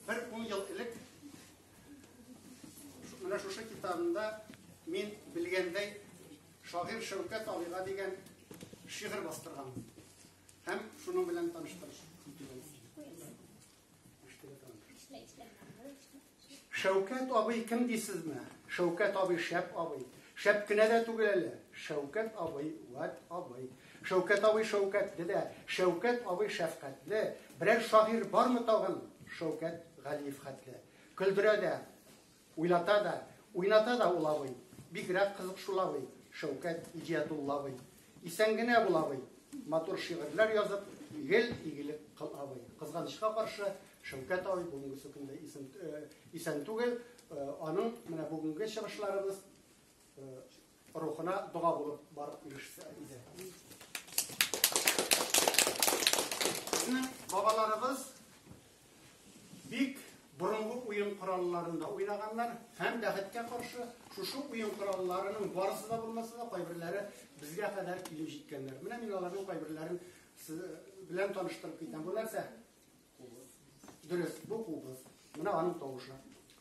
Бер ун ел элек менә шушы китабында мин белгәндәй шагыйрь Шәүкәт абыйга дигән шигырь бастырган. Һәм шуның белән таныштырыш. Шәүкәт абый кем дисезме? Шәүкәт абый шәп абый. Шәп кенә дә түгел әле. Шәүкәт абый, вәт абый. Шәүкәт абый шәүкәтле дә, Шәүкәт абый шәфкатьле. Берәр шагыйрь бармы тагын? Шәүкәт Галиев хәтле. Көлдерә дә, уйлата да, уйната да ул абый. Бигрәк кызык шул абый, Шәүкәт Иҗиятулла абый. Исән генә бул, абый! Матур шигырьләр язып, гел игелек кыл, абый! Кызганычка каршы, Шәүкәт абый бүгенгесе көндә исен, э, исән түгел, э, аның менә бүгенге чыгышларыбыз э, рухына дога булып барып ирешсә иде. Безнең бабаларыбыз Бик борынгы уен коралларында уйнаганнар һәм, бәхеткә каршы, шушы уен коралларының барысы да булмаса да, кайберләре безгә кадәр килеп җиткәннәр. Менә мин аларның кайберләрен сез белән таныштырып китәм. Бу нәрсә? Дөрес, бу кубыз. Менә аның тавышы.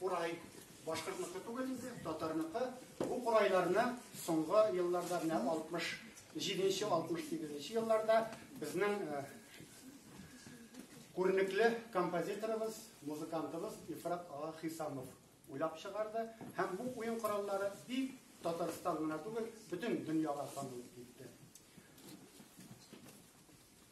Курай башкортныкы түгел инде, татарныкы. Бу курайларны соңгы елларда, менә 67-68 елларда безнең күренекле композиторыбыз, музыкантыбыз Ифрат Ага Хисамов уйлап чыгарды һәм бу уен кораллары бик Татарстан гына түгел, бөтен дөньяга танылып китте.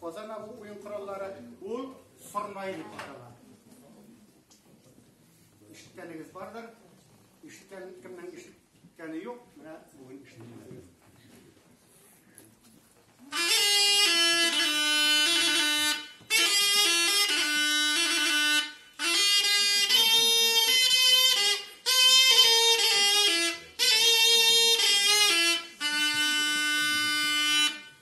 Казана бу уен кораллары ул сорнай дип атала. Ишеткәнегез бардыр. Ишеткән кемнең ишеткәне юк, менә бүген ишеткән.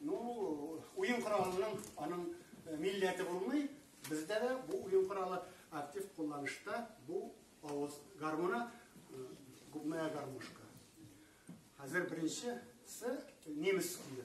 Ну, уен коралының аның э, милләте булмый. Бездә дә бу уен коралы актив кулланышта. Бу авыз гармуна, э, губная гармошка. Хәзер беренче с немец көе.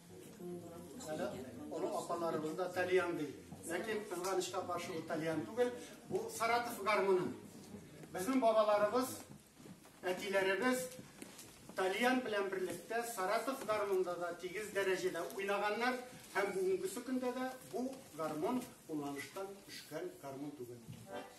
Әле олы апаларыбыз да тальян ди. Ләкин кызганычка каршы ул тальян түгел, бу Саратов гармоны. Безнең бабаларыбыз, әтиләребез Тальян белән берлектә Саратов гармонда да тигез дәрәҗәдә уйнаганнар һәм бүгенге көндә дә бу гармон кулланыштан төшкән гармон түгел.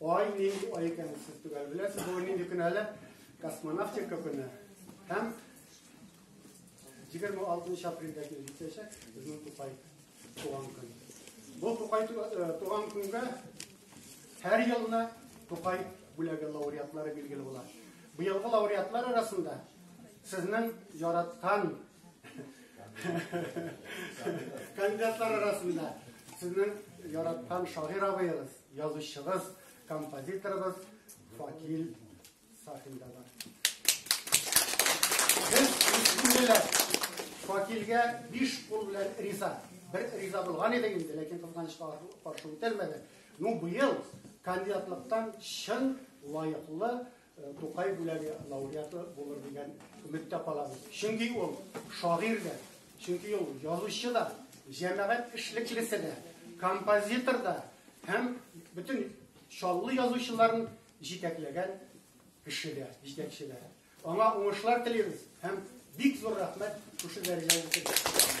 Ай, нинди ай икән сез түгел. Беләсез, бу нинди көн әле? Космонавтика көне. Һәм 26 апрельдә киләчәк безнең Тукай туган көн. Бу Тукай э, туган көнгә һәр елны Тукай бүләге лауреатлары билгеле була. Быелгы лауреатлар арасында сезнең яраткан Кандидатлар арасында сезнең яраткан шагыйрь абыегыз, язучыгыз, композиторыбыз Факил Сафин да бар. Без бисмилләһ. Факилгә биш кул белән риза. Бер риза булган иде инде, ләкин кызганычка каршы үтәлмәде. Ну, быел кандидатлыктан чын лаеклы Тукай бүләге лауреаты булыр дигән өметтә калабыз. Чөнки ул шагыйрь дә, чөнки ул язучы да, җәмәгать эшлеклесе дә, композитор да һәм бөтен Чаллы язучыларын җитәкләгән кеше дә, җитәкче дә. Аңа уңышлар телибез һәм бик зур рәхмәт шушы дәрәҗәгә җиткердегез.